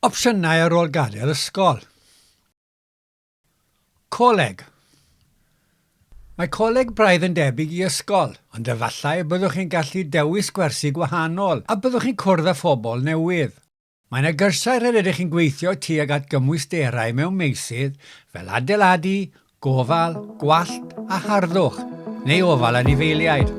Opsiynau ar ôl gadael ysgol. Coleg. Mae coleg braidd yn debyg i ysgol, ond efallai y byddwch chi'n gallu dewis gwersi gwahanol a byddwch chi'n cwrdd â phobl newydd. Mae yna gyrsiau rhededig chi'n gweithio tuag at gymwysterau mewn meysydd fel adeiladu, Gofal, gwallt a harddwch, neu ofal anifeiliaid.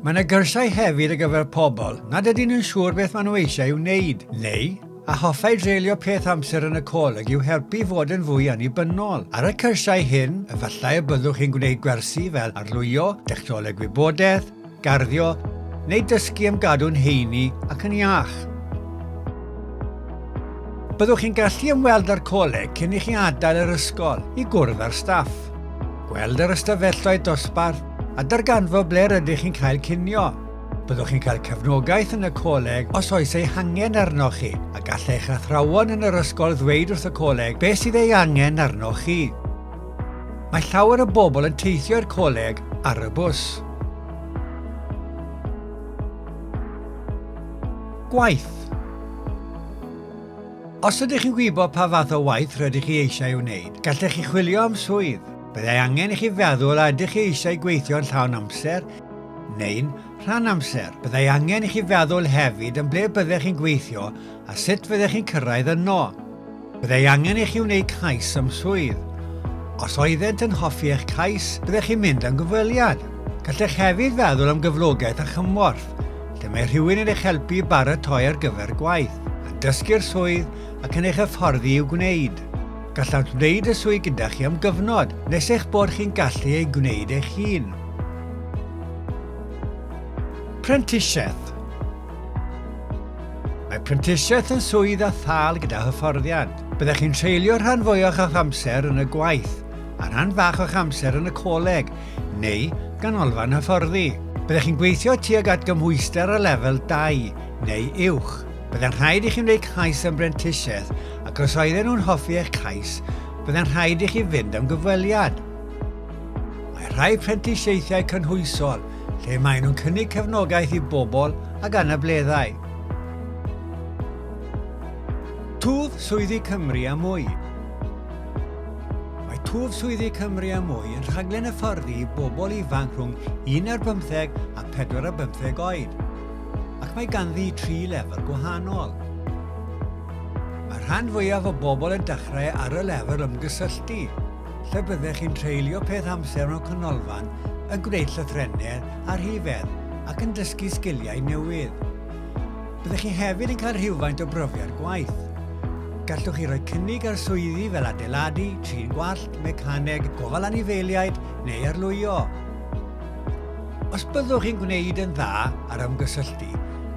Mae yna gyrsiau hefyd ar gyfer pobl nad ydyn yn siŵr beth maen nhw eisiau ei wneud, neu a hoffai dreulio peth amser yn y coleg i'w helpu i fod yn fwy annibynnol. Ar y cyrsiau hyn, efallai y byddwch chi'n gwneud gwersi fel arlwyo, dechnoleg wybodaeth, Garddio neu dysgu am gadw'n heini ac yn iach. Byddwch chi'n gallu ymweld â'r coleg cyn i chi adael yr ysgol i gwrdd â'r staff, gweld yr ystafelloedd dosbarth a darganfod ble rydych chi'n cael cinio. Byddwch chi'n cael cefnogaeth yn y coleg os oes ei hangen arnoch chi a gall eich athrawon yn yr ysgol ddweud wrth y coleg beth sydd ei angen arnoch chi. Mae llawer o bobl yn teithio i'r coleg ar y bws. Gwaith Os ydych chi'n gwybod pa fath o waith rydych chi eisiau ei wneud, gallech chi chwilio am swydd. Byddai angen i chi feddwl a ydych chi eisiau gweithio'n llawn amser neu'n rhan amser. Byddai angen i chi feddwl hefyd yn ble byddech chi'n gweithio A sut fyddech chi'n cyrraedd yno? Byddai angen i chi wneud cais am swydd. Os oeddent yn hoffi eich cais, byddech chi'n mynd am gyfweliad. Gallech hefyd feddwl am gyflogaeth a chymorth, lle mae rhywun yn eich helpu i baratoi ar gyfer gwaith, yn dysgu'r swydd ac yn eich hyfforddi i'w gwneud. Gallant wneud y swydd gyda chi am gyfnod, nes eich bod chi'n gallu ei gwneud eich hun. Prentisiaeth Mae prentisiaeth yn swydd a thâl gyda hyfforddiant. Byddech chi'n treulio rhan fwyaf o'ch amser yn y gwaith, a rhan fach o'ch amser yn y coleg, neu ganolfan hyfforddi. Byddech chi'n gweithio tuag at gymhwyster a lefel 2 neu uwch. Byddai'n rhaid i chi wneud cais am brentisiaeth ac os oedden nhw'n hoffi eich cais, byddai'n rhaid i chi fynd am gyfweliad. Mae rhai prentisiaethau cynhwysol lle maen nhw'n cynnig cefnogaeth i bobl ag anableddau. Twf Swyddi Cymru a Mwy Mae Twf Swyddi Cymru a Mwy yn rhaglen hyfforddi i bobl ifanc rhwng 1 ar 15 a 4 ar 15 oed, ac mae ganddi tri lefel gwahanol. Mae rhan fwyaf o bobl yn dechrau ar y lefel ymgysylltu, lle byddech chi'n treulio peth amser mewn canolfan yn gwneud llythrennedd a rhifedd ac yn dysgu sgiliau newydd. Byddech chi hefyd yn cael rhywfaint o brofiad gwaith. Gallwch chi roi cynnig ar swyddi fel adeiladu, trin gwallt, mecaneg, gofal anifeiliaid neu arlwyo. Os byddwch chi'n gwneud yn dda ar ymgysylltu,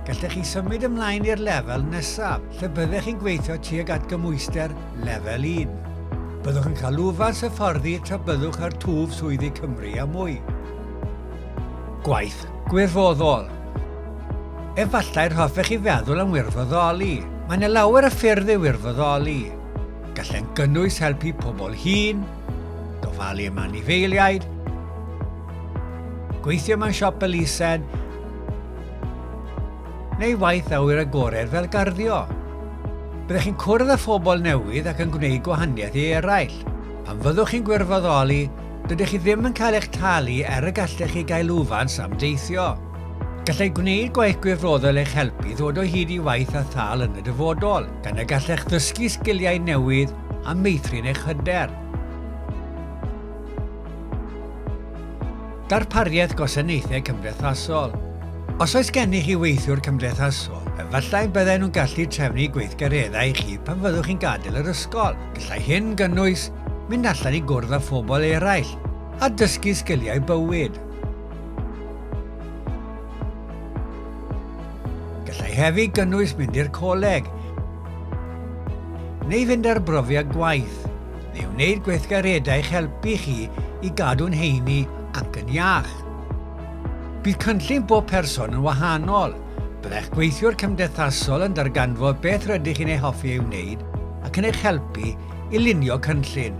gallech chi symud ymlaen i'r lefel nesaf. lle byddech chi'n gweithio tuag at gymwyster Lefel 1. Byddwch yn cael lwfans hyfforddi tra byddwch ar twf swyddi Cymru a mwy. Gwaith gwirfoddol. Efallai'r hoffech chi feddwl am wirfoddoli. Mae yna lawer o ffyrdd i wirfoddoli. Gallai'n gynnwys helpu pobl hun, gofalu am anifeiliaid, gweithio mewn siop elusen, neu waith awyr agored fel garddio. Byddech chi'n cwrdd â phobl newydd ac yn gwneud gwahaniaeth i eraill. Pan fyddwch chi'n gwirfoddoli, dydych chi ddim yn cael eich talu er y gallech chi gael lwfans am deithio. Gallai gwneud gwaith gwirfoddol eich helpu ddod o hyd i waith a thâl yn y dyfodol, gan y gallech ddysgu sgiliau newydd a meithrin eich hyder. Darpariaeth Gwasanaethau Cymdeithasol Os oes gennych chi weithiwr cymdeithasol, efallai bydden nhw'n gallu trefnu gweithgareddau i chi pan fyddwch chi'n gadael yr ysgol. Gallai hyn gynnwys mynd allan i gwrdd â phobl eraill a dysgu sgiliau bywyd. Gallai hefyd gynnwys mynd i'r coleg neu fynd ar brofiad gwaith. neu wneud gweithgareddau i'ch helpu chi i gadw'n heini ac yn iach. Bydd cynllun bob person yn wahanol, byddai'ch gweithiwr cymdeithasol yn darganfod beth rydych chi'n ei hoffi ei wneud ac yn eich helpu i lunio cynllun.